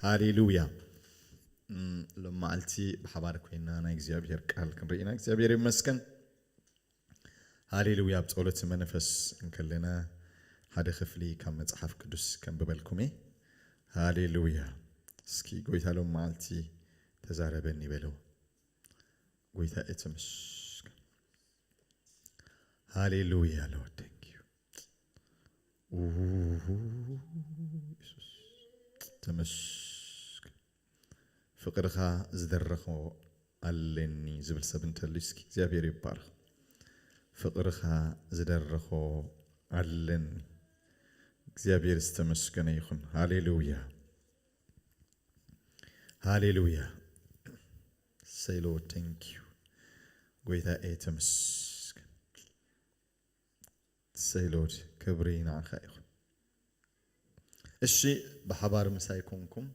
ሃሌሉያ ሎም መዓልቲ ብሓባር ኮይና ናይ እግዚኣብሔር ቃል ክንርኢ ኢና እግዚኣብሔር ይመስገን ሃሌሉያ ኣብ ጸሎት መንፈስ እንከለና ሓደ ክፍሊ ካብ መጽሓፍ ቅዱስ ከንብበልኩም እየ ሃሌሉያ እስኪ ጎይታ ሎም መዓልቲ ተዛረበኒ በለው ጎይታ እትምስ ሃሌሉያ ሎርድ ታንክ ዩ ኢየሱስ ተመስገን። ፍቅርኻ ዝደረኾ ኣለኒ ዝብል ሰብ እንተሉ እስኪ እግዚኣብሔር ይባረኽ። ፍቅርኻ ዝደረኾ ኣለኒ እግዚኣብሔር ዝተመስገነ ይኹን። ሃሌሉያ ሃሌሉያ። እሰይ ሎርድ ቴንክ ዩ ጎይታኤ ተመስገን። እሰይ ሎርድ ክብሪ ንዓኻ ይኹን። እሺ ብሓባር ምሳይ ኮንኩም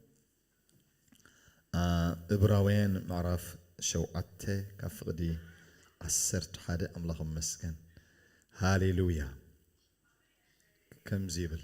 እብራውያን ምዕራፍ ሸውዓተ ካብ ፍቕዲ ዓሰርተ ሓደ ኣምላኽ መስገን ሃሌሉያ ከምዚ ይብል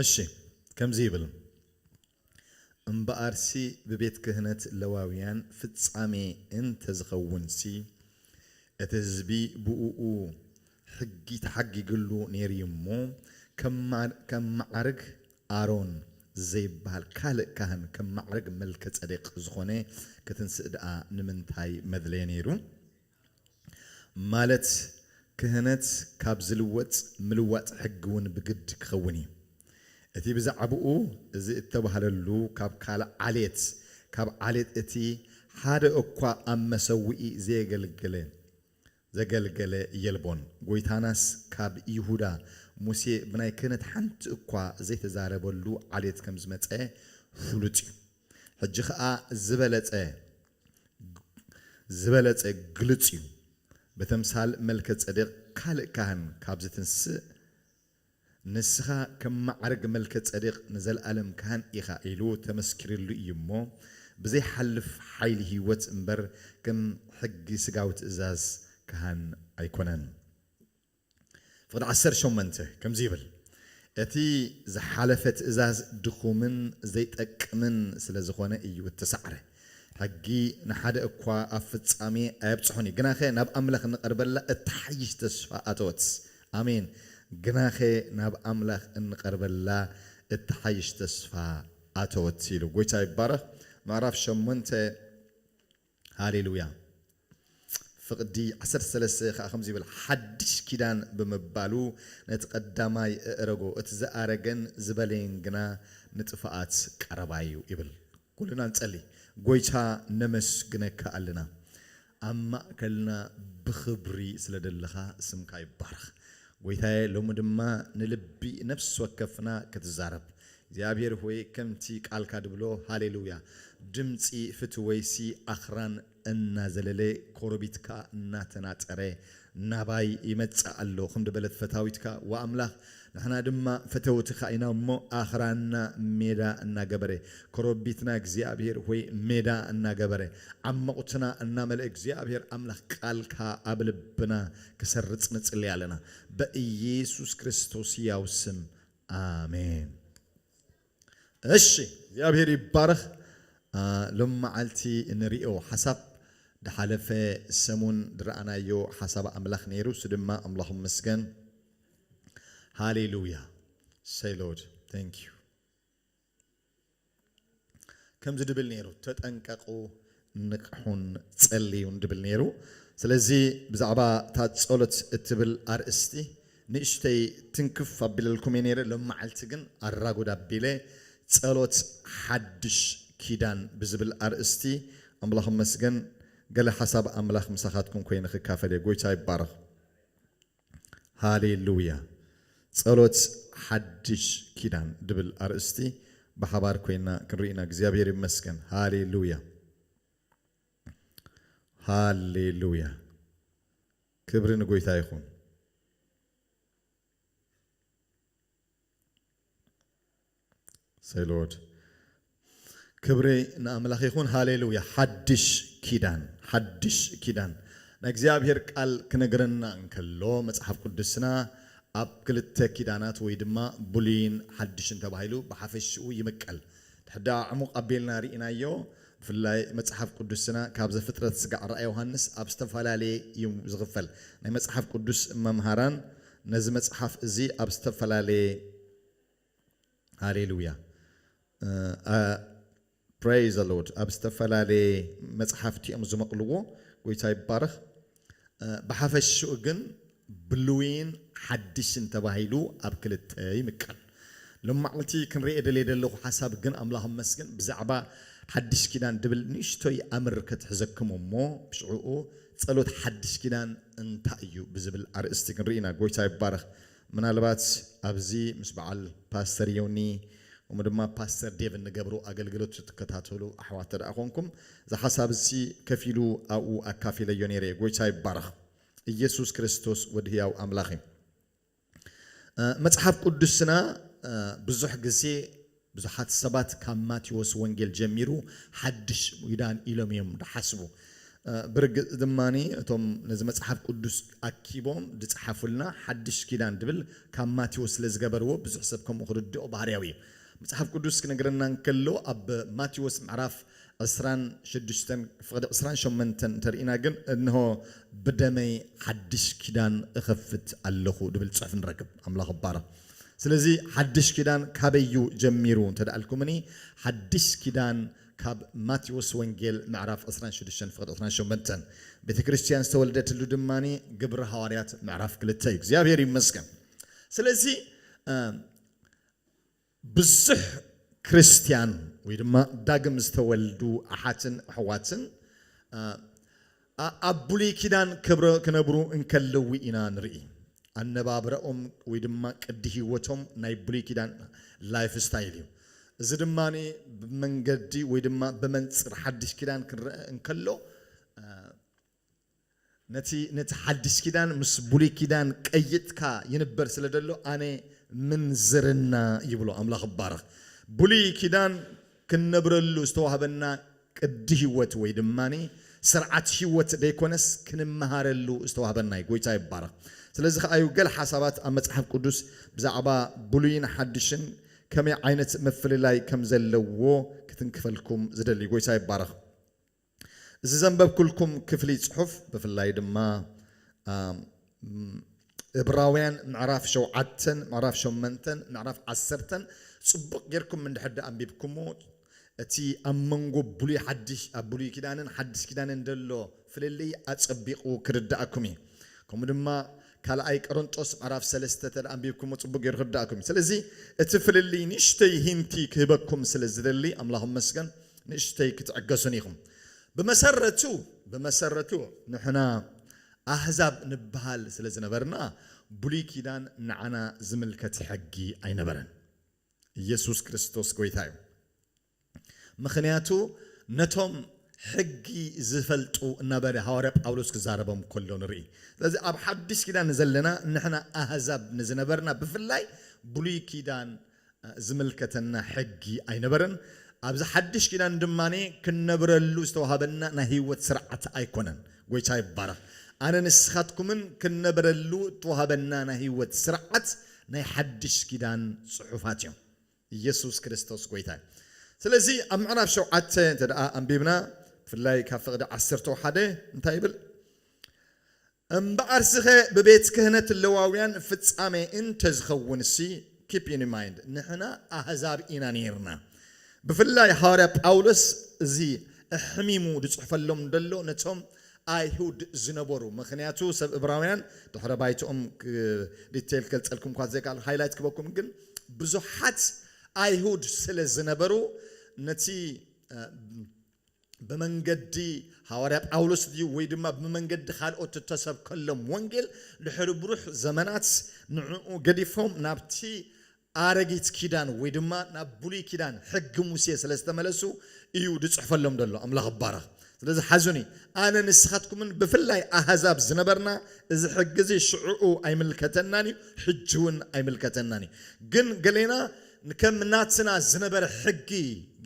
እሺ ከምዚ ይብል እምበኣርሲ ብቤት ክህነት ለዋውያን ፍጻሜ እንተ ዝኸውንሲ እቲ ህዝቢ ብእኡ ሕጊ ተሓጊግሉ ነይሩ እዩ እሞ ከም መዓርግ ኣሮን ዘይበሃል ካልእ ካህን ከም መዓርግ መልከ ጸዴቅ ዝኾነ ክትንስእ ደኣ ንምንታይ መድለየ ነይሩ? ማለት ክህነት ካብ ዝልወጥ ምልዋጥ ሕጊ እውን ብግድ ክኸውን እዩ። እቲ ብዛዕብኡ እዚ እተባህለሉ ካብ ካልእ ዓሌት፣ ካብ ዓሌት እቲ ሓደ እኳ ኣብ መሰውኢ ዘየገልገለ፣ ዘገልገለ የልቦን። ጐይታናስ ካብ ይሁዳ፣ ሙሴ ብናይ ክህነት ሓንቲ እኳ ዘይተዛረበሉ ዓሌት ከም ዝመጸ ፍሉጥ እዩ። ሕጂ ኸኣ ዝበለጸ፣ ዝበለጸ ግሉጽ እዩ። ብተምሳል መልከ-ጸዴቅ ካልእ ካህን ካብ ዝትንስእ፣ ንስኻ ከም መዓርግ መልከ-ጸዴቅ ንዘለኣለም ካህን ኢኻ ኢሉ ተመስኪርሉ እዩ እሞ፣ ብዘይሓልፍ ሓይሊ ሕይወት እምበር ከም ሕጊ ሥጋዊ ትእዛዝ ካህን ኣይኮነን። ፍቕዲ ዓሰርተ ሸሞንተ ከምዚ ይብል፣ እቲ ዝሓለፈ ትእዛዝ ድኹምን ዘይጠቅምን ስለ ዝዀነ እዩ እተሳዕረ። ሕጊ ንሓደ እኳ ኣብ ፍጻሜ ኣየብጽሖን እዩ፣ ግናኸ ናብ ኣምላኽ እንቐርበላ እትሓይሽ ተስፋ ኣተወት። ኣሜን! ግናኸ ናብ ኣምላኽ እንቐርበላ እትሓይሽ ተስፋ ኣተወት ኢሉ። ጐይታ ይባረኽ። ምዕራፍ ሸሞንተ ሃሌሉያ ፍቕዲ ዓሰርተ ሰለስተ ከኣ ከምዚ ይብል ሓድሽ ኪዳን ብምባሉ ነቲ ቀዳማይ እእረጎ እቲ ዝኣረገን ዝበለየን ግና ንጥፋኣት ቀረባ እዩ ይብል ኩልና ንጸሊ ጎይታ ነመስግነካ ኣልና ኣብ ማእከልና ብኽብሪ ስለ ደለኻ ስምካ ይባረኽ ጎይታየ ሎሚ ድማ ንልቢ ነፍሲ ወከፍና ክትዛረብ እግዚኣብሔር ሆይ ከምቲ ቃልካ ድብሎ ሃሌሉያ ድምጺ ፍትወይሲ ኣኽራን እናዘለለ ኮረቢት ከኣ እናተናጸረ ናባይ ይመጽእ ኣሎ ክንዲ በለት ፈታዊትካ ወኣምላኽ ንሕና ድማ ፈተውትካ ኢና እሞ ኣኽራንና ሜዳ እናገበረ ኮረቢትና እግዚኣብሔር ሆይ ሜዳ እናገበረ ዓሞቕትና እናመልኣ እግዚኣብሔር ኣምላኽ ቃልካ ኣብ ልብና ክሰርጽ ንጽሊ ኣለና በኢየሱስ ክርስቶስ ሕያው ስም ኣሜን እሺ እግዚኣብሔር ይባረክ ሎሚ መዓልቲ እንሪኦ ሓሳብ ድሓለፈ ሰሙን ድረኣናዮ ሓሳብ ኣምላክ ነይሩ እሱ ድማ ኣምላክ ይመስገን ሃሌሉያ ሰይ ሎርድ ታንኪዩ። ከምዚ ድብል ነይሩ ተጠንቀቁ ንቅሑን ጸልዩን ድብል ነይሩ ስለዚ ብዛዕባ እታ ጸሎት እትብል ኣርእስቲ ንእሽተይ ትንክፍ ኣቢለልኩም እየ ነይረ ሎምዓልቲ ግን ኣራጉድ ኣቢለ ጸሎት ሓድሽ ኪዳን ብዝብል ኣርእስቲ ኣምላኽ ይመስገን ገለ ሓሳብ ኣምላኽ ምሳኻትኩም ኮይነ ክካፈል እየ ጎይታ ይባረኽ። ሃሌሉያ ጸሎት ሓድሽ ኪዳን ድብል ኣርእስቲ ብሓባር ኮይና ክንርኢ ኢና እግዚኣብሔር ይመስገን ሃሌሉያ ሃሌሉያ ክብሪ ንጎይታ ይኹን ሰይ ሎርድ ክብሪ ንኣምላኽ ይኹን ሃሌሉያ ሓድሽ ኪዳን ሓድሽ ኪዳን ናይ እግዚኣብሔር ቃል ክነግረና እንከሎ መጽሓፍ ቅዱስና ኣብ ክልተ ኪዳናት ወይ ድማ ብሉይን ሓድሽን ተባሂሉ ብሓፈሽኡ ይምቀል ድሕዳ ዕሙቕ ኣቢልና ርኢናዮ ብፍላይ መጽሓፍ ቅዱስና ካብ ዘፍጥረት ስጋዕ ራእይ ዮሃንስ ኣብ ዝተፈላለየ እዩ ዝኽፈል ናይ መጽሓፍ ቅዱስ መምሃራን ነዚ መጽሓፍ እዚ ኣብ ዝተፈላለየ ሃሌሉያ ፕረይ ዘሎድ ኣብ ዝተፈላለየ መፅሓፍቲ እዮም ዝመቕልዎ ጎይታ ይባረኽ ብሓፈሽኡ ግን ብሉይን ሓድሽን ተባሂሉ ኣብ ክልተ ይምቀል ሎማዕልቲ ክንርኤ ደልየ ደለኹ ሓሳብ ግን ኣምላኽ እመስግን ብዛዕባ ሓድሽ ኪዳን ድብል ንእሽቶይ ኣምር ከትሕዘክም እሞ ብሽዕኡ ፀሎት ሓድሽ ኪዳን እንታይ እዩ ብዝብል ኣርእስቲ ክንርኢና ጎይታ ይባረኽ ምናልባት ኣብዚ ምስ በዓል ፓስተር ዮኒ እሞ ድማ ፓስተር ዴቭ እንገብሮ ኣገልግሎት ዝትከታተሉ ኣሕዋት ተደኣ ኮንኩም እዚ ሓሳብ እዚ ከፍ ኢሉ ኣብኡ ኣካፊለዮ ነይረ እየ ጎይታ ይባረኽ እየሱስ ክርስቶስ ወዲ ህያው ኣምላኽ እዩ መጽሓፍ ቁዱስና ብዙሕ ግዜ ብዙሓት ሰባት ካብ ማቴዎስ ወንጌል ጀሚሩ ሓድሽ ኪዳን ኢሎም እዮም ዝሓስቡ። ብርግጽ ድማ እቶም ነዚ መጽሓፍ ቅዱስ ኣኪቦም ዝጸሓፉልና ሓድሽ ኪዳን ዝብል ካብ ማቴዎስ ስለ ዝገበርዎ ብዙሕ ሰብ ከምኡ ክርድኦ ባህርያዊ እዩ። መጽሓፍ ቅዱስ ክነግረና እንከሎ ኣብ ማቴዎስ ምዕራፍ ዕስራን ሽዱሽተን ፍቕዲ ዕስራን ሸሞንተን እንተርኢና ግን እንሆ ብደመይ ሓድሽ ኪዳን እኸፍት ኣለኹ ድብል ጽሑፍ ንረክብ። ኣምላኽ ይባረኽ። ስለዚ ሓድሽ ኪዳን ካበይ እዩ ጀሚሩ እንተ ኣልኩምኒ ሓድሽ ኪዳን ካብ ማቴዎስ ወንጌል ምዕራፍ ዕስራን ሽዱሽተን ፍቕዲ ዕስራን ሸሞንተን ቤተ ክርስትያን ዝተወልደትሉ ድማ ግብሪ ሃዋርያት ምዕራፍ ክልተ እዩ። እግዚኣብሔር ይመስገን። ስለዚ ብዙሕ ክርስትያን ወይ ድማ ዳግም ዝተወልዱ ኣሓትን ኣሕዋትን ኣብ ብሉይ ኪዳን ክነብሩ እንከለዉ ኢና ንርኢ። ኣነባብራኦም ወይ ድማ ቅዲ ህይወቶም ናይ ብሉይ ኪዳን ላይፍ ስታይል እዩ። እዚ ድማ ብመንገዲ ወይ ድማ ብመንጽር ሓድሽ ኪዳን ክንረኣ እንከሎ ነቲ ነቲ ሓዲስ ኪዳን ምስ ብሉይ ኪዳን ቀይጥካ ይንበር ስለ ደሎ ኣነ ምንዝርና ይብሎ ኣምላኽ ይባረኽ ብሉይ ኪዳን ክንነብረሉ ዝተዋህበና ቅዲ ሂወት ወይ ድማ ስርዓት ሂወት ደይኮነስ ክንመሃረሉ ዝተዋህበና እዩ ጎይታ ይባረኽ ስለዚ ከኣ እዩ ገለ ሓሳባት ኣብ መጽሓፍ ቅዱስ ብዛዕባ ብሉይን ሓዲሽን ከመይ ዓይነት ምፍልላይ ከም ዘለዎ ክትንክፈልኩም ዝደሊ ጎይታ ይባረኽ እዚ ዘንበብኩልኩም ክፍሊ ጽሑፍ ብፍላይ ድማ እብራውያን ምዕራፍ ሸውዓተን ምዕራፍ ሸመንተን ምዕራፍ ዓሰርተን ጽቡቕ ጌርኩም እንድሕር ድኣ ኣንቢብኩሞ እቲ ኣብ መንጎ ብሉይ ሓድሽ ኣብ ብሉይ ኪዳንን ሓድሽ ኪዳንን ዘሎ ፍልልይ ኣጸቢቑ ክርድኣኩም እዩ። ከምኡ ድማ ካልኣይ ቀረንጦስ ምዕራፍ ሰለስተ ተደኣ ኣንቢብኩሞ ጽቡቅ ጌሩ ክርድኣኩም እዩ ስለዚ እቲ ፍልልይ ንእሽተይ ሂንቲ ክህበኩም ስለ ዝደሊ ኣምላኽ ይመስገን ንእሽተይ ክትዕገሱኒ ኢኹም ብመሰረቱ ብመሰረቱ ንሕና ኣህዛብ ንብሃል ስለ ዝነበርና ብሉይ ኪዳን ንዓና ዝምልከት ሕጊ ኣይነበረን ኢየሱስ ክርስቶስ ጎይታ እዩ። ምኽንያቱ ነቶም ሕጊ ዝፈልጡ እናበለ ሃዋርያ ጳውሎስ ክዛረቦም ከሎ ንርኢ። ስለዚ ኣብ ሓድሽ ኪዳን ንዘለና ንሕና ኣህዛብ ንዝነበርና ብፍላይ ብሉይ ኪዳን ዝምልከተና ሕጊ ኣይነበረን። ኣብዚ ሓድሽ ኪዳን ድማ ክንነብረሉ ዝተዋህበና ናይ ህይወት ስርዓት ኣይኮነን። ጎይታ ይባረኽ። ኣነ ንስኻትኩምን ክንነብረሉ እተዋህበና ናይ ህይወት ስርዓት ናይ ሓድሽ ኪዳን ጽሑፋት እዮም። ኢየሱስ ክርስቶስ ጎይታ እዩ። ስለዚ ኣብ ምዕራፍ ሸውዓተ እንተ ኣንቢብና ብፍላይ ካብ ፍቕዲ ዓሰርተው ሓደ እንታይ ይብል እምበኣርስኸ ብቤት ክህነት ለዋውያን ፍጻሜ እንተ ዝኸውንሲ keep in mind ንሕና ኣህዛብ ኢና ነይርና ብፍላይ ሃዋርያ ጳውሎስ እዚ ኣሕሚሙ ዝጽሕፈሎም ደሎ ነቶም ኣይሁድ ዝነበሩ ምክንያቱ ሰብ እብራውያን ድሕረ ባይትኦም ዲተይል ክገልፀልኩም እኳ ዘይክኣል ሃይላይት ክበኩም ግን ብዙሓት ኣይሁድ ስለ ዝነበሩ ነቲ ብመንገዲ ሃዋርያ ጳውሎስ ድዩ ወይ ድማ ብመንገዲ ካልኦት እተሰብከሎም ወንጌል ድሕሪ ብሩሕ ዘመናት ንዕኡ ገዲፎም ናብቲ ኣረጊት ኪዳን ወይ ድማ ናብ ብሉይ ኪዳን ሕጊ ሙሴ ስለ ዝተመለሱ እዩ ዝጽሕፈሎም ዘሎ ኣምላኽ ይባረኽ ስለዚ ሓዙኒ ኣነ ንስኻትኩምን ብፍላይ ኣህዛብ ዝነበርና እዚ ሕጊ እዚ ሽዑኡ ኣይምልከተናን እዩ ሕጂ ውን ኣይምልከተናን እዩ ግን ገሌና ከም ናትና ዝነበረ ሕጊ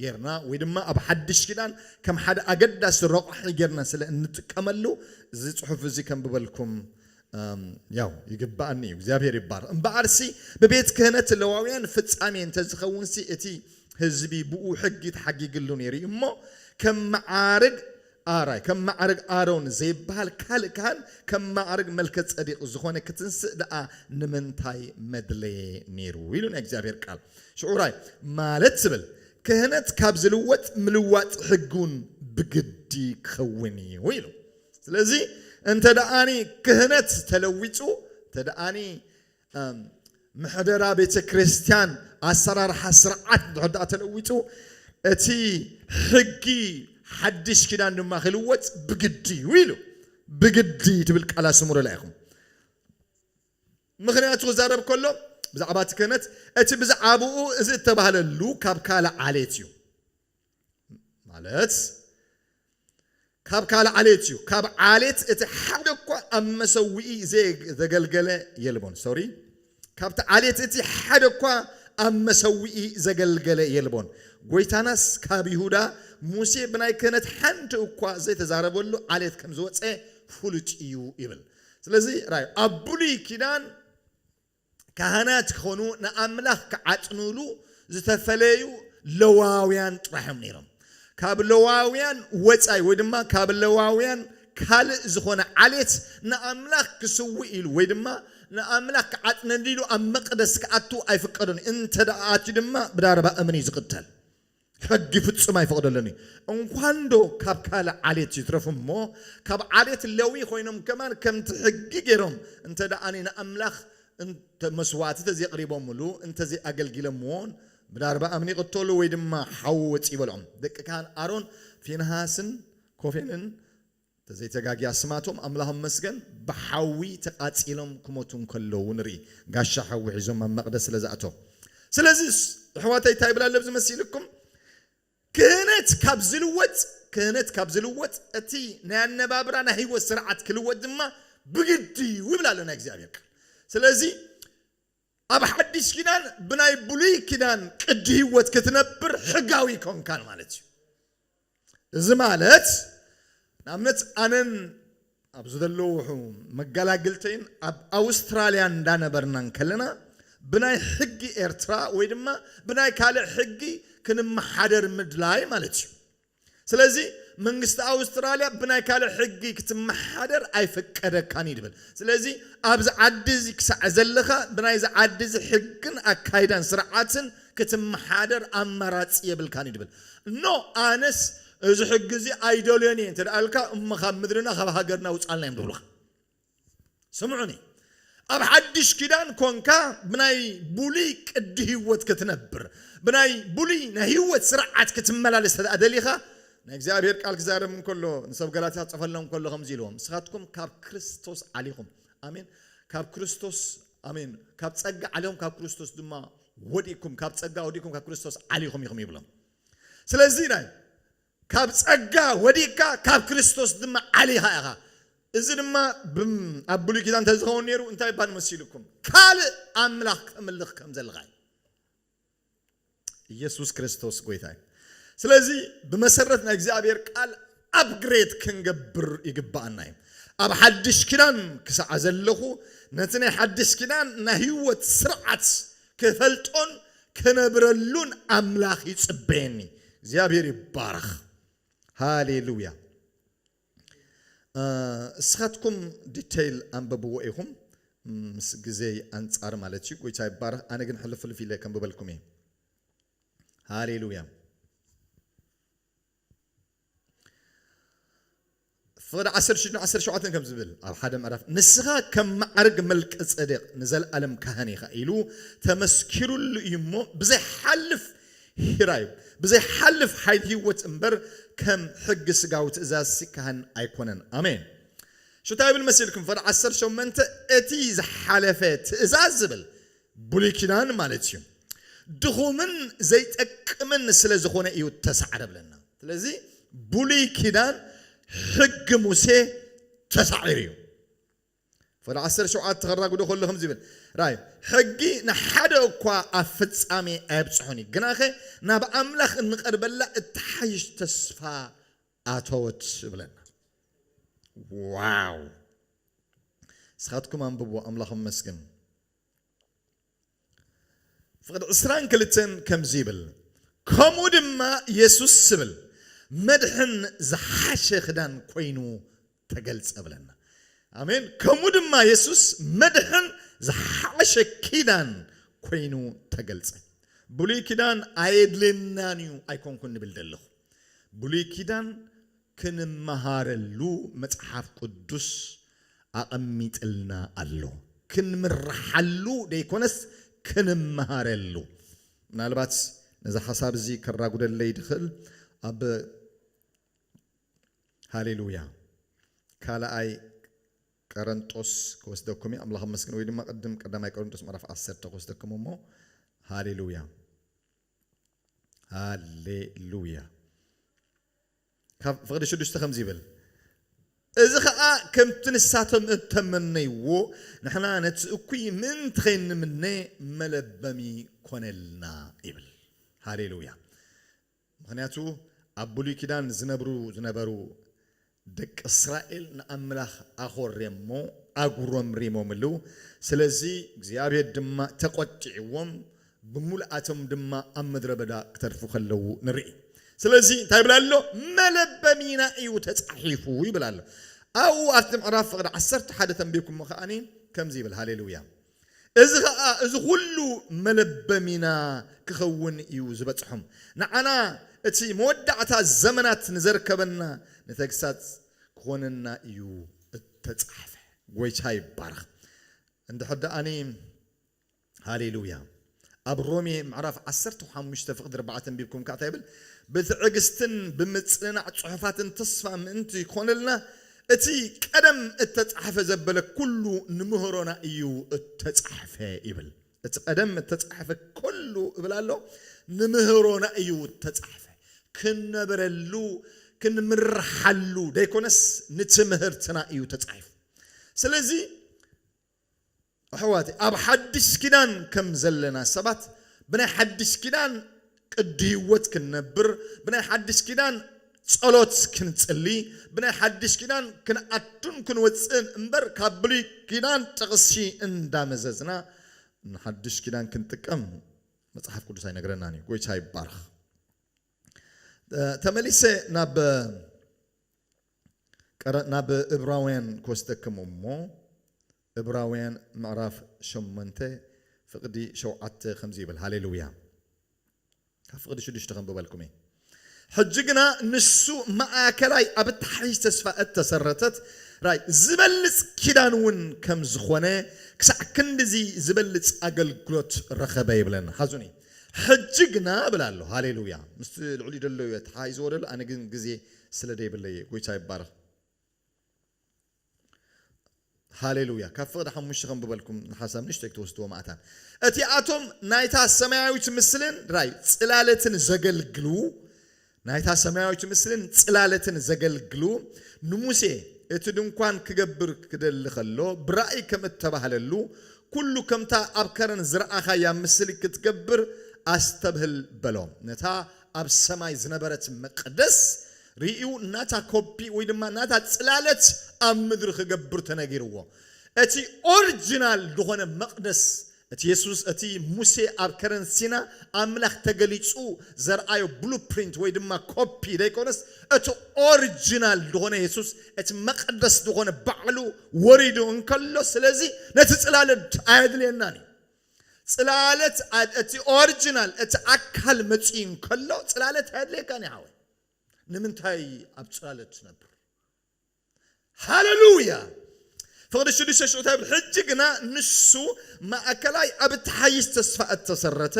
ጌርና ወይ ድማ ኣብ ሓድሽ ኪዳን ከም ሓደ ኣገዳሲ ረቋሒ ጌርና ስለ እንጥቀመሉ እዚ ጽሑፍ እዚ ከንብበልኩም ያው ይግበኣኒ እዩ እግዚኣብሔር ይባረኽ እምበኣርሲ ብቤት ክህነት ለዋውያን ፍፃሜ እንተዝኸውንሲ እቲ ህዝቢ ብኡ ሕጊ ተሓጊግሉ ነይሩ እዩ እሞ ከም መዓርግ ኣራይ ከም መዓርግ ኣሮን ዘይበሃል ካልእ ካህን ከም መዓርግ መልከ ፀዲቅ ዝኾነ ክትንስእ ደኣ ንምንታይ መድለየ ነይሩ ኢሉ ናይ እግዚኣብሔር ቃል ሽዑ ራይ ማለት ትብል ክህነት ካብ ዝልወጥ ምልዋጥ ሕጊ እውን ብግዲ ክኸውን እዩ ኢሉ ስለዚ እንተ ደኣኒ ክህነት ተለዊጡ፣ እንተ ደኣኒ ምሕደራ ቤተ ክርስቲያን ኣሰራርሓ ስርዓት እንድሕር ደኣ ተለዊጡ፣ እቲ ሕጊ ሓድሽ ኪዳን ድማ ክልወጥ ብግዲ እዩ ኢሉ። ብግዲ ትብል ቃል ኣስምሩላ ኢኹም። ምክንያቱ ክዛረብ ከሎ ብዛዕባ እቲ ክህነት እቲ ብዛዕባኡ እዚ እተባህለሉ ካብ ካልእ ዓሌት እዩ። ማለት ካብ ካልእ ዓሌት እዩ። ካብ ዓሌት እቲ ሓደ እኳ ኣብ መሰውኢ ዘገልገለ የልቦን። ሶሪ ካብቲ ዓሌት እቲ ሓደ እኳ ኣብ መሰውኢ ዘገልገለ የልቦን። ጐይታናስ ካብ ይሁዳ ሙሴ ብናይ ክህነት ሓንቲ እኳ ዘይተዛረበሉ ዓሌት ከም ዝወጸ ፍሉጥ እዩ ይብል። ስለዚ ራዩ ኣብ ብሉይ ኪዳን ካህናት ኪዀኑ፣ ንኣምላኽ ኪዓጥኑሉ ዝተፈለዩ ለዋውያን ጥራሕ እዮም ነይሮም። ካብ ለዋውያን ወጻኢ ወይ ድማ ካብ ለዋውያን ካልእ ዝዀነ ዓሌት ንኣምላኽ ኪስውእ ኢሉ ወይ ድማ ንኣምላኽ ኪዓጥነሉ ኢሉ ኣብ መቕደስ ኪኣቱ ኣይፍቀዶን እዩ፣ እንተ ኣትዩ ድማ ብዳርባ እምኒ እዩ ዚቕተል። ሕጊ ፍጹም ኣይፈቕደሉን እዩ። እንኳንዶ ካብ ካልእ ዓሌት ይትረፍ እሞ ካብ ዓሌት ሌዊ ኮይኖም ከማን ከምቲ ሕጊ ገይሮም እንተድኣ ንኣምላኽ መስዋእቲ ተዘየቕሪቦምሉ እንተዘይኣገልጊሎምዎን ብዳርብኣም ይቕተሉ ወይ ድማ ሓዊ ወጺኡ ይበልዖም። ደቂ ካህን ኣሮን ፊንሃስን ኮፌንን እንተዘይ ተጋግየ ኣስማቶም ኣምላኽ ይመስገን ብሓዊ ተቃጺሎም ክሞቱ እንከለዉ ንርኢ ጋሻ ሓዊ ሒዞም ኣብ መቅደስ ስለ ዝኣተው ስለዚ ኣሕዋተይ እንታይ ይብል ኣሎ ኣብዚ መሲልኩም ክህነት ካብ ዝልወጥ ክህነት ካብ ዝልወጥ እቲ ናይ ኣነባብራ ናይ ህይወት ስርዓት ክልወጥ ድማ ብግዲ እዩ ይብል ኣሎ ናይ እግዚኣብሔር ቃል ስለዚ ኣብ ሓዲሽ ኪዳን ብናይ ብሉይ ኪዳን ቅዲ ህይወት ክትነብር ሕጋዊ ኮንካን ማለት እዩ። እዚ ማለት ንኣብነት ኣነን ኣብዚ ዘለውሑ መጋላግልተይን ኣብ ኣውስትራልያ እንዳነበርና እንከለና ብናይ ሕጊ ኤርትራ ወይ ድማ ብናይ ካልእ ሕጊ ክንመሓደር ምድላይ ማለት እዩ። ስለዚ መንግስቲ ኣውስትራልያ ብናይ ካልእ ሕጊ ክትመሓደር ኣይፍቀደካን እዩ ድብል። ስለዚ ኣብዚ ዓዲ እዚ ክሳዕ ዘለኻ ብናይዚ ዓዲ እዚ ሕግን ኣካይዳን ስርዓትን ክትመሓደር ኣማራጺ የብልካን እዩ ድብል። እኖ ኣነስ እዚ ሕጊ እዚ ኣይደልዮን እየ እንተድኣ እልካ እሞ ካብ ምድርና ካብ ሃገርና ውጽኣልና እዮም ድብሉኻ። ስምዑኒ ኣብ ሓድሽ ኪዳን ኮንካ ብናይ ብሉይ ቅዲ ህይወት ክትነብር ብናይ ብሉይ ናይ ህይወት ስርዓት ክትመላለስ እንተ ደሊኻ ናይ እግዚኣብሔር ቃል ክዛረብ እንከሎ ንሰብ ገላትያ ክጽፈሎም ከሎ ከምዚ ኢልዎም ንስኻትኩም ካብ ክርስቶስ ዓሊኹም ኣሜን ካብ ክርስቶስ ኣሜን ካብ ጸጋ ዓሊኹም ካብ ክርስቶስ ድማ ወዲእኩም ካብ ጸጋ ወዲእኩም ካብ ክርስቶስ ዓሊኹም ኢኹም ይብሎም ስለዚ ናይ ካብ ጸጋ ወዲቅካ ካብ ክርስቶስ ድማ ዓሊኻ ኢኻ። እዚ ድማ ኣብ ብሉይ ኪዳን እንተዝኸውን ነይሩ እንታይ ባል መሲሉኩም ካልእ ኣምላኽ ተምልኽ ከም ዘለኻ እዩ። ኢየሱስ ክርስቶስ ጎይታ እዩ። ስለዚ ብመሰረት ናይ እግዚኣብሔር ቃል ኣብግሬት ክንገብር ይግባኣና እዩ። ኣብ ሓድሽ ኪዳን ክሳዕ ዘለኹ ነቲ ናይ ሓድሽ ኪዳን ናይ ህይወት ስርዓት ክፈልጦን ክነብረሉን ኣምላኽ ይጽበየኒ እግዚኣብሔር ይባረኽ ሃሌሉያ እስኻትኩም ዲተይል ኣንበብዎ ኢኹም ምስ ግዜይ ኣንጻር ማለት እዩ ጎይታ ይባረኽ ኣነ ግን ሕልፍልፍ ኢለ ከንብበልኩም እየ ሃሌሉያ ፍቕዲ ዓሰርተ ሽዱን ዓሰርተ ሸውዓተን ከም ዝብል ኣብ ሓደ ምዕራፍ ንስኻ ከም መዓርግ መልከ ጸዴቅ ንዘለኣለም ካህን ኢኻ ኢሉ ተመስኪሩሉ እዩ እሞ ብዘይሓልፍ ሂራይ ብዘይሓልፍ ሓይል ህይወት እምበር ከም ሕጊ ስጋዊ ትእዛዝ ሲካህን ኣይኮነን ኣሜን ሽታ ይብል መሲልኩም ፍቕዲ ዓሰርተ ሸመንተ እቲ ዝሓለፈ ትእዛዝ ዝብል ብሉይ ኪዳን ማለት እዩ ድኹምን ዘይጠቅምን ስለ ዝኾነ እዩ ተሳዕረ ብለና። ስለዚ ብሉይ ኪዳን ሕጊ ሙሴ ተሳዒሩ እዩ። ፍቕዲ ዓሰርተ ሸውዓተ ከራጉዶ ከሎ ከምዚ ይብል ራዩ ሕጊ ንሓደ እኳ ኣብ ፍጻሜ ኣየብጽሖን እዩ፣ ግናኸ ናብ ኣምላኽ እንቐርበላ እትሓይሽ ተስፋ ኣተወት ብለና። ዋው! ንስኻትኩም ኣንብብዎ። ኣምላኽ ኣመስግን። ፍቕዲ ዕስራን ክልተን ከምዚ ይብል ከምኡ ድማ የሱስ ዝብል መድሕን ዝሓሸ ክዳን ኮይኑ ተገልጸ ብለና ኣሜን ከምኡ ድማ የሱስ መድሕን ዝሓሸ ኪዳን ኮይኑ ተገልጸ ብሉይ ኪዳን ኣየድልየናን እዩ ኣይኮንኩን ንብል ዘለኹ ብሉይ ኪዳን ክንመሃረሉ መጽሓፍ ቅዱስ ኣቐሚጥልና ኣሎ። ክንምረሓሉ ደይኮነስ ክንመሃረሉ። ምናልባት ነዚ ሓሳብ እዚ ከራጉደለይ ድኽእል ኣብ ሃሌሉያ ካልኣይ ቀረንጦስ ክወስደኩም እየ ኣምላኽ ኣመስግን ወይ ድማ ቅድም ቀዳማይ ቀረንጦስ ምዕራፍ ዓሰርተ ክወስደኩም እሞ ሃሌሉያ ሃሌሉያ ካብ ፍቕዲ ሽዱሽተ ከምዚ ይብል እዚ ኸዓ ከምቲ ንሳቶም እተመነይዎ ንሕና ነቲ እኩይ ምእንቲ ኸይንምነ መለበሚ ኮነልና ይብል ሃሌሉያ ምኽንያቱ ኣብ ብሉይ ኪዳን ዝነብሩ ዝነበሩ ደቂ እስራኤል ንኣምላኽ ኣዀሬሞ ኣጕረምሪሞምሉ፣ ስለዚ እግዚኣብሄር ድማ ተቈጢዕዎም፣ ብምሉኣቶም ድማ ኣብ ምድረ በዳ ክተርፉ ከለዉ ንርኢ። ስለዚ እንታይ ይብል ኣሎ? መለበሚና እዩ ተጻሒፉ ይብል ኣሎ። ኣብኡ ኣብቲ ምዕራፍ ፍቕዲ ዓሰርተ ሓደ ተንቢብኩሞ ከኣ ከምዚ ይብል፣ ሃሌሉያ! እዚ ኸኣ እዚ ዅሉ መለበሚና ኪኸውን እዩ ዚበጽሖም። ንዓና እቲ መወዳእታ ዘመናት ንዘርከበና ንተግሳጽ ኪኾነና እዩ እተጻሕፈ። ጐይታ ይባረኽ እንድሕር ደኣኒ ሃሌሉያ። ኣብ ሮሜ ምዕራፍ ዓሰርተ ሓሙሽተ ፍቕዲ ኣርባዕተ ኣንቢብኩም ከኣ እንታይ ይብል? ብትዕግስትን ብምጽንናዕ ጽሑፋትን ተስፋ ምእንቲ ይኾነልና፣ እቲ ቀደም እተጻሕፈ ዘበለ ኩሉ ንምህሮና እዩ እተጻሕፈ ይብል። እቲ ቀደም እተጻሕፈ ኩሉ እብል ኣሎ፣ ንምህሮና እዩ እተጻሕፈ። ክንነብረሉ፣ ክንምርሓሉ ደይኮነስ ንትምህርትና እዩ ተጻሒፉ። ስለዚ ኣሕዋተይ ኣብ ሓድሽ ኪዳን ከም ዘለና ሰባት ብናይ ሓድሽ ኪዳን ቅዲ ህይወት ክንነብር ብናይ ሓድሽ ኪዳን ጸሎት ክንጽሊ ብናይ ሓድሽ ኪዳን ክንኣቱን ክንወጽእን እምበር ካብ ብሉይ ኪዳን ጥቕሲ እንዳ መዘዝና ንሓድሽ ኪዳን ክንጥቀም መጽሓፍ ቅዱስ ኣይነግረናን እዩ ጎይታ ይባረኽ ተመሊሰ ናብ ቀረን ናብ እብራውያን ክወስደክም እሞ እብራውያን ምዕራፍ ሸሞንተ ፍቅዲ ሸውዓተ ከምዚ ይብል ሃሌሉያ ካብ ፍቅዲ ሽዱሽተ ከንብበልኩም እየ ሕጂ ግና ንሱ ማእከላይ ኣብ እትሓይሽ ተስፋ እተሰረተት ራይ ዝበልጽ ኪዳን እውን ከም ዝኾነ ክሳዕ ክንድዚ ዝበልጽ ኣገልግሎት ረኸበ ይብለና ሓዙኒ ሕጂ ግና እብል ኣሎ ሃሌሉያ ምስቲ ልዕሊ ደሎ እየ ተሓይዝዎ ደሎ ኣነ ግን ግዜ ስለ ደይብለይ እየ ጎይታ ይባረኽ ሃሌሉያ ካብ ፍቕዲ ሓሙሽተ ከም ብበልኩም ንሓሳብ ንእሽተይ ክትወስድዎ ማእታን እቲኣቶም ናይታ ሰማያዊት ምስልን ራይ ጽላለትን ዘገልግሉ ናይታ ሰማያዊት ምስልን ጽላለትን ዘገልግሉ ንሙሴ እቲ ድንኳን ክገብር ክደሊ ከሎ ብራእይ ከም እተባህለሉ ኩሉ ከምታ ኣብ ከረን ዝረኣኻያ ምስሊ ክትገብር ኣስተብህል በሎም ነታ ኣብ ሰማይ ዝነበረት መቅደስ ርእዩ ናታ ኮፒ ወይ ድማ ናታ ጽላለት ኣብ ምድሪ ክገብር ተነጊርዎ። እቲ ኦርጅናል ዝኾነ መቅደስ እቲ የሱስ እቲ ሙሴ ኣብ ከረን ሲና ኣምላኽ ተገሊጹ ዘርኣዮ ብሉ ፕሪንት ወይ ድማ ኮፒ ደይኮነስ እቲ ኦርጅናል ዝኾነ የሱስ እቲ መቅደስ ዝኾነ ባዕሉ ወሪዱ እንከሎ ስለዚ ነቲ ጽላለት ኣየድልየናን እዩ። ጽላለት እቲ ኦርጅናል እቲ ኣካል መጽዩ እንከሎ ጽላለት ኣየድልየካን እዩ ሓወይ ንምንታይ ኣብ ጽላለት ትነብር ሃለሉያ ፍቕዲ ሽዱሽተ ሽዑ እንታይ ይብል ሕጂ ግና ንሱ ማእከላይ ኣብ እትሓይሽ ተስፋ እተሰረተ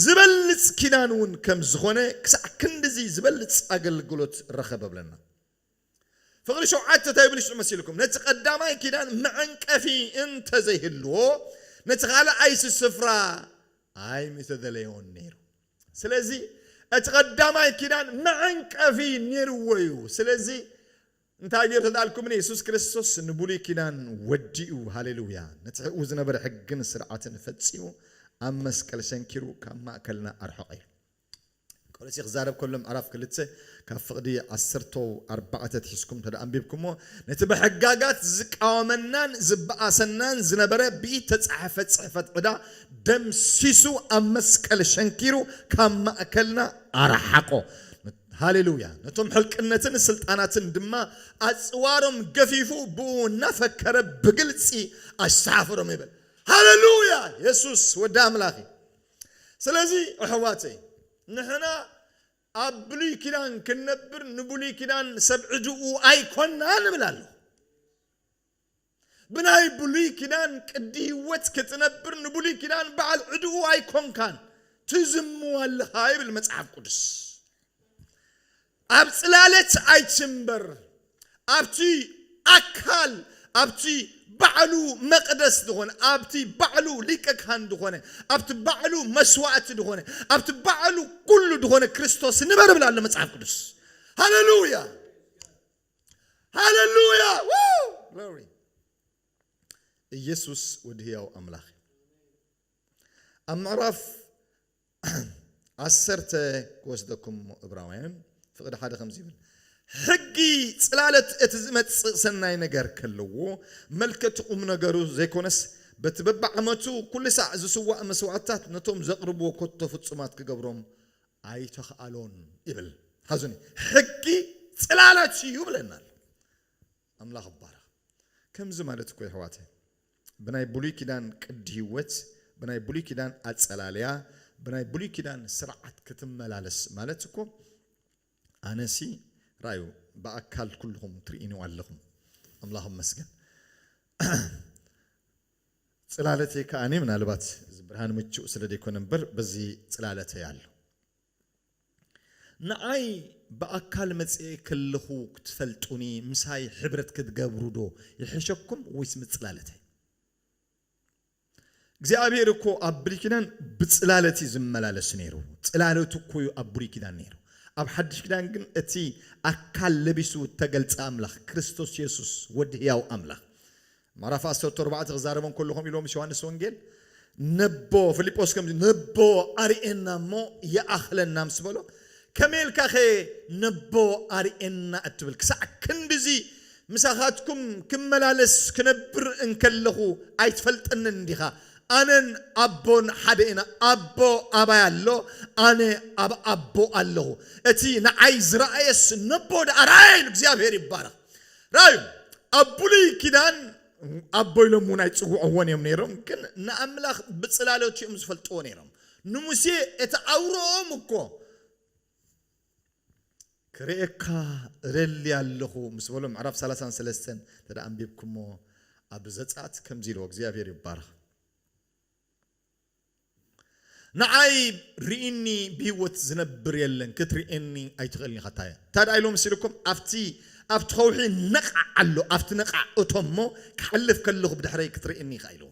ዝበልጽ ኪዳን እውን ከም ዝኾነ ክሳዕ ክንድዚ ዝበልጽ ኣገልግሎት ረኸበ ብለና ፍቕሪ ሸውዓተ ተብልሽጹ መሲልኩም ነቲ ቀዳማይ ኪዳን መዐንቀፊ እንተ ዘይህልዎ ነቲ ካልኣይሲ ስፍራ ኣይምተደለዮን ነይሩ። ስለዚ እቲ ቀዳማይ ኪዳን መዐንቀፊ ነይርዎ እዩ። ስለዚ እንታይ ገይሩ ተዳልኩምኒ የሱስ ክርስቶስ ንብሉይ ኪዳን ወዲኡ ሃሌሉያ ነቲ ሕኡ ዝነበረ ሕግን ስርዓትን ፈጺሙ ኣብ መስቀል ሰንኪሩ ካብ ማእከልና ኣርሐቐ እዩ። ቀሪጺ ክዛረብ ከሎ ምዕራፍ ክልተ ካብ ፍቕዲ ዓሰርተ ኣርባዕተ ኣትሒዝኩም እንተ ኣንቢብኩምዎ ነቲ ብሕጋጋት ዝቃወመናን ዝበኣሰናን ዝነበረ ብኢድ ተጻሕፈ ጽሕፈት ዕዳ ደምሲሱ ኣብ መስቀል ሸንኪሩ ካብ ማእከልና ኣርሓቆ። ሃሌሉያ! ነቶም ሕልቅነትን ስልጣናትን ድማ ኣጽዋሮም ገፊፉ ብእኡ እናፈከረ ብግልጺ ኣሰሓፈሮም ይብል። ሃሌሉያ! የሱስ ወዲ ኣምላኽ እዩ። ስለዚ ኣሕዋተይ ንሕና ኣብ ብሉይ ኪዳን ክንነብር ንብሉይ ኪዳን ሰብ ዕድኡ ኣይኮናን እብል ኣለኹ። ብናይ ብሉይ ኪዳን ቅዲ ህይወት ክትነብር ንብሉይ ኪዳን በዓል ዕድኡ ኣይኮንካን፣ ትዝምው ኣለኻ ይብል መጽሓፍ ቅዱስ። ኣብ ጽላለት ኣይትንበር፣ ኣብቲ ኣካል ኣብቲ ባዕሉ መቅደስ ዝኾነ፣ ኣብቲ ባዕሉ ሊቀ ካህን ዝኾነ፣ ኣብቲ ባዕሉ መስዋእቲ ዝኾነ፣ ኣብቲ ባዕሉ ኩሉ ዝኾነ ክርስቶስ ንበር ይብል ኣሎ መጽሓፍ ቅዱስ። ሃለሉያ ሃለሉያ! ግሎሪ ኢየሱስ ወዲ ህያው ኣምላኽ እዩ። ኣብ ምዕራፍ ዓሰርተ ክወስደኩም እሞ እብራውያን ፍቕዲ ሓደ ከምዚ ይብል ሕጊ ጽላለት እቲ ዝመጽእ ሰናይ ነገር ከለዎ መልከቲ ቁም ነገሩ ዘይኮነስ በቲ በብዓመቱ ኩሉ ሳዕ ዝስዋእ መስዋእትታት ነቶም ዘቕርብዎ ኮቶ ፍጹማት ክገብሮም ኣይተኽኣሎን ይብል ሓዙኒ ሕጊ ጽላለት እዩ ብለናል ኣምላኽ ባረኽ ከምዚ ማለት እኮ ይሕዋተይ ብናይ ብሉይ ኪዳን ቅዲ ህይወት፣ ብናይ ብሉይ ኪዳን ኣጸላልያ፣ ብናይ ብሉይ ኪዳን ስርዓት ክትመላለስ ማለት እኮ ኣነሲ ራዩ ብኣካል ኩሉኹም ትርእዩኒ ኣለኹም ኣምላኽ ይመስገን ጽላለተይ ከኣ ምናልባት እዚ ብርሃን ምቹእ ስለ ዘይኮነ እምበር በዚ ጽላለተይ ኣሎ ንዓይ ብኣካል መጺኤ ክልኹ ክትፈልጡኒ ምሳይ ሕብረት ክትገብሩ ዶ ይሕሸኩም ወይስ ምጽላለተይ እግዚኣብሄር እኮ ኣብ ብሉይ ኪዳን ብጽላለት እዩ ዝመላለስ ነይሩ ጽላለቱ እኮ እዩ ኣብ ብሉይ ኪዳን ነይሩ ኣብ ሓድሽ ኪዳን ግን እቲ ኣካል ለቢሱ እተገልጸ ኣምላኽ ክርስቶስ የሱስ ወዲ ህያው ኣምላኽ ማራፍ ኣሰርቱ ኣርባዕተ ክዛረቦም ከሎ ከምኡ ኢልዎ ምስ ዮሃንስ ወንጌል ነቦ ፍሊጶስ ከምዚ ነቦ ኣርኤና እሞ ይኣኽለና ምስ በሎ ከመይ ኢልካኸ ነቦ ኣርኤና እትብል ክሳዕ ክንድዚ ምሳኻትኩም ክመላለስ ክነብር እንከለኹ ኣይትፈልጠንን እንዲኻ ኣነን ኣቦን ሓደ ኢና ኣቦ ኣባይ ኣሎ ኣነ ኣብ ኣቦ ኣለኹ እቲ ንዓይ ዝረኣየስ ነቦ ደኣ ረኣየ ኢሉ እግዚኣብሔር ይባረኽ ራእዩ ኣብ ብሉይ ኪዳን ኣቦ ኢሎም እውን ኣይጽውዕዎን እዮም ነይሮም፣ ግን ንኣምላኽ ብጽላሎት እዮም ዝፈልጥዎ ነይሮም። ንሙሴ እቲ ኣውርኦም እኮ ክርእየካ እደሊ ኣለኹ ምስ በሎ ምዕራፍ ሰላሳን ሰለስተን እንተ ኣንቢብኩሞ ኣብ ዘጸኣት ከምዚ ኢልዎ እግዚኣብሔር ይባረኽ። ንዓይ ሪኢኒ ብሂወት ዝነብር የለን ክትሪኤኒ ኣይትክእልን ኢካ ታየ ታድኣ ኢሉ መሲሉኩም ኣብቲ ኣብቲ ከውሒ ነቃዕ ኣሎ ኣብቲ ነቃዕ እቶሞ ክሓልፍ ከለኩ ብድሕረይ ክትሪእኒ ኢካ ኢሉ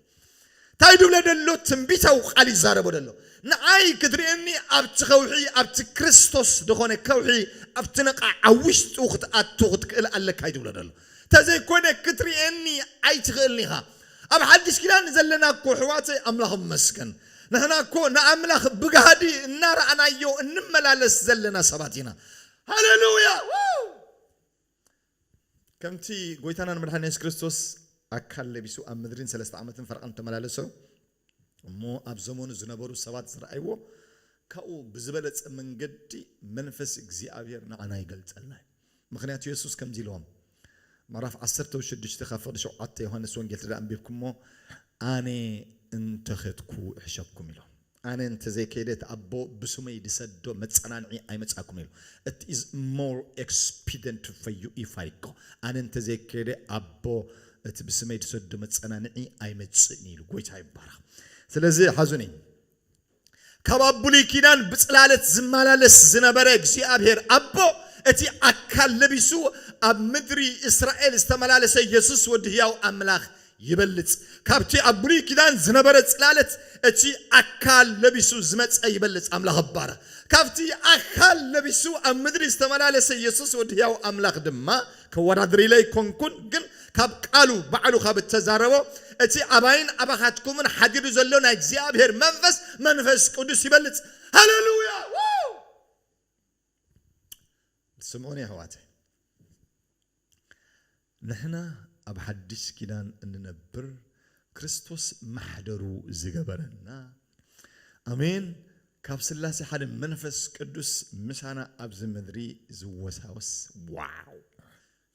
ታይ ድብለ ደሎ ትንቢታዊ ቃል ይዛረቦ ደሎ ንዓይ ክትሪኤኒ ኣብቲ ከውሒ ኣብቲ ክርስቶስ ድኮነ ከውሒ ኣብቲ ነቃዕ ኣብ ውሽጡ ክትኣቱ ክትክእል ኣለካ እዩ ድብሎ ደሎ ተዘይኮነ ክትርእየኒ ኣይትኽእልን ኢኻ ኣብ ሓድሽ ኪዳን ንዘለና እኮ ኣሕዋተይ ኣምላኽ ይመስገን ንሕና እኮ ንኣምላኽ ብጋህዲ እናረኣናዮ እንመላለስ ዘለና ሰባት ኢና ሃለሉያ ዋው ከምቲ ጎይታናን መድሓኒና የሱስ ክርስቶስ ኣካል ለቢሱ ኣብ ምድሪ ንሰለስተ ዓመትን ፈረቓን ተመላለሶ እሞ ኣብ ዘመኑ ዝነበሩ ሰባት ዝረኣይዎ ካብኡ ብዝበለጸ መንገዲ መንፈስ እግዚኣብሔር ንዓና ይገልጸልና እዩ ምኽንያቱ የሱስ ከምዚ ኢልዎም ምዕራፍ ዓሰርተው ሽዱሽተ ካብ ፍቕዲ ሸውዓተ ዮሃንስ ወንጌል ትዳ ኣንቢብኩሞ ኣነ እንተኸድኩ እሕሸኩም ኢሎ ኣነ እንተዘይከይደ እቲ ኣቦ ብስመይ ድሰዶ መጸናንዒ ኣይመጻኩም ኢሉ እቲ ኢዝ ሞር ኤክስፒደንት ፈዩ ኢፋይኮ ኣነ እንተዘይከይደ ኣቦ እቲ ብስመይ ድሰዶ መጸናንዒ ኣይመጽእን እዩ ኢሉ። ጎይታ ይባረኽ። ስለዚ ሓዙኒ ካብ ኣብ ብሉይ ኪዳን ብጽላለት ዝመላለስ ዝነበረ እግዚኣብሔር ኣቦ እቲ ኣካል ለቢሱ ኣብ ምድሪ እስራኤል ዝተመላለሰ የሱስ ወዲ ህያው ኣምላኽ ይበልጽ። ካብቲ ኣብ ብሉይ ኪዳን ዝነበረ ጽላለት እቲ ኣካል ለቢሱ ዝመጸ ይበልጽ። ኣምላኽ እባረኽ። ካብቲ ኣካል ለቢሱ ኣብ ምድሪ ዝተመላለሰ የሱስ ወዲ ህያው ኣምላኽ ድማ ከወዳድር ኢለ ኣይኮንኩን ግን ካብ ቃሉ ባዕሉ ካብ እተዛረቦ እቲ ኣባይን ኣባኻትኩምን ሓዲሩ ዘሎ ናይ እግዚኣብሄር መንፈስ መንፈስ ቅዱስ ይበልጽ ሃለሉያ ዋው ስምዑኒ ኣሕዋተይ ንሕና ኣብ ሓድሽ ኪዳን እንነብር ክርስቶስ ማሕደሩ ዝገበረና ኣሜን ካብ ስላሴ ሓደ መንፈስ ቅዱስ ምሳና ኣብዚ ምድሪ ዝወሳወስ ዋው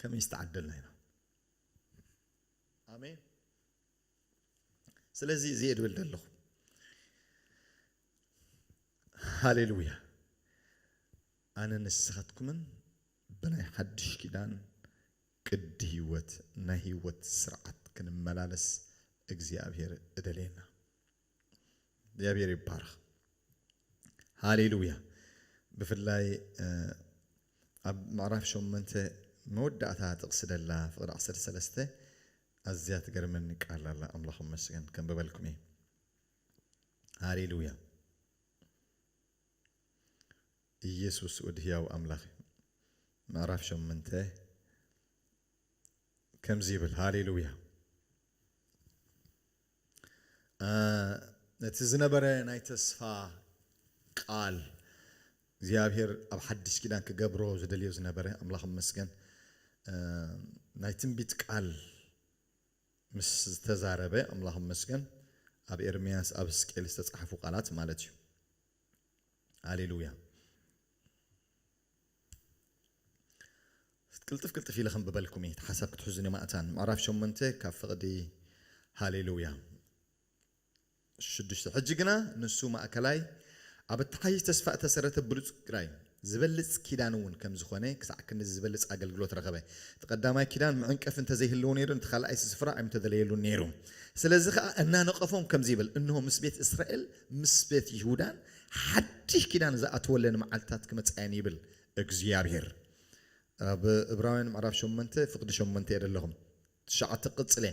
ከመይ ዝተዓደልና ኢና ኣሜን ስለዚ እዚ እየ ድብል ዘለኹ ሃሌሉያ ኣነ ንስኻትኩምን ብናይ ሓድሽ ኪዳን ቅዲ ህይወት ናይ ህይወት ስርዓት ክንመላለስ እግዚኣብሔር እደልየና እግዚኣብሔር ይባረኽ ሃሌሉያ ብፍላይ ኣብ ምዕራፍ ሸመንተ መወዳእታ ጥቕሲ ደላ ፍቕዲ ዓሰርተ ሰለስተ ኣዝያ ትገርመኒ ቃል ኣላ ኣምላኽ መስገን ከንብበልኩም እየ ሃሌሉያ ኢየሱስ ወድ ህያው ኣምላኽ ምዕራፍ ሸመንተ ከምዚ ይብል ሃሌሉያ ነቲ ዝነበረ ናይ ተስፋ ቃል እግዚኣብሔር ኣብ ሓድሽ ኪዳን ክገብሮ ዝደልዮ ዝነበረ ኣምላኽ መስገን ናይ ትንቢት ቃል ምስ ዝተዛረበ ኣምላኽ መስገን ኣብ ኤርምያስ ኣብ ሕዝቅኤል ዝተጻሕፉ ቃላት ማለት እዩ ሃሌሉያ ቅልጥፍ ቅልጥፍ ኢለ ከንብበልኩም እየ እቲ ሓሳብ ክትሕዙኒ ማእታን ምዕራፍ ሸሞንተ ካብ ፍቕዲ ሃሌሉያ ሽዱሽተ ሕጂ ግና ንሱ ማእከላይ ኣብ እተሓይሽ ተስፋ እተሰረተ ብሉጽ ግራይ ዝበልጽ ኪዳን እውን ከም ዝኾነ ክሳዕ ክንድዚ ዝበልጽ ኣገልግሎት ረኸበ። እቲ ቀዳማይ ኪዳን መዐንቀፊ እንተ ዘይህልዎ ነይሩ ነቲ ካልኣይስ ስፍራ ኣይምተደለየሉን ነይሩ። ስለዚ ኸኣ እናነቐፎም ከምዚ ይብል እንሆ ምስ ቤት እስራኤል ምስ ቤት ይሁዳን ሓድሽ ኪዳን ዝኣትወለን መዓልትታት ክመጻ እየን ይብል እግዚኣብሄር። ኣብ እብራውያን ምዕራፍ ሸሞንተ ፍቅዲ ሸሞንተ እየ ዘለኹም ትሽዓተ ቅጽለ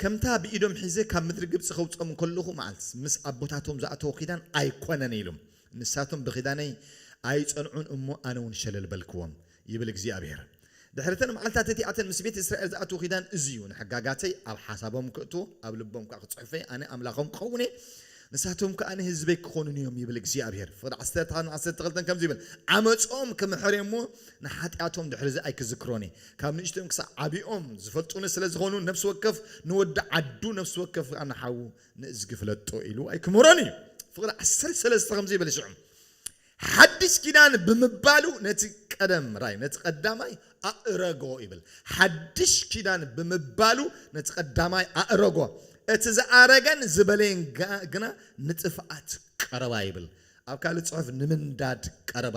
ከምታ ብኢዶም ሒዘ ካብ ምድሪ ግብጺ ከውጽኦም ከለኹ መዓልት ምስ ኣቦታቶም ዝኣተዎ ኪዳን ኣይኮነን ኢሉም ንሳቶም ብኪዳነይ ኣይጸንዑን እሞ ኣነውን ሸለል በልክዎም ይብል እግዚኣብሄር። ድሕሪ እተን መዓልትታት እቲኣተን ምስ ቤት እስራኤል ዝኣትዎ ኪዳን እዚ እዩ፣ ንሕጋጋተይ ኣብ ሓሳቦም ክእትዎ፣ ኣብ ልቦም ከኣ ክጽሕፎ እየ፣ ኣነ ኣምላኾም ክኸውን እየ፣ ንሳቶም ከኣ ንህዝበይ ክኾኑኒ እዮም ይብል እግዚኣብሄር። ፍቕዲ ዓሰርተ ሓደን ዓሰርተ ክልተን ከምዚ ይብል፣ ዓመጾም ክምሕር እየ እሞ፣ ንሓጢኣቶም ድሕርዚ ኣይክዝክሮን እየ። ካብ ንእሽቶኦም ክሳዕ ዓቢኦም ዝፈልጡኒ ስለ ዝዀኑ፣ ነፍሲ ወከፍ ንወዲ ዓዱ፣ ነፍሲ ወከፍ ከኣ ንሓዉ ንእዝጊ ፍለጦ ኢሉ ኣይክምህሮን እዩ። ፍቕዲ ዓሰርተ ሰለስተ ከምዚ ይብል፣ ሽዑ ሓድሽ ኪዳን ብምባሉ ነቲ ቀደም ራይ ነቲ ቀዳማይ ኣእረጎ ይብል። ሓድሽ ኪዳን ብምባሉ ነቲ ቀዳማይ ኣእረጎ፣ እቲ ዝኣረገን ዝበለየን ግና ንጥፍኣት ቀረባ ይብል። ኣብ ካልእ ጽሑፍ ንምንዳድ ቀረባ።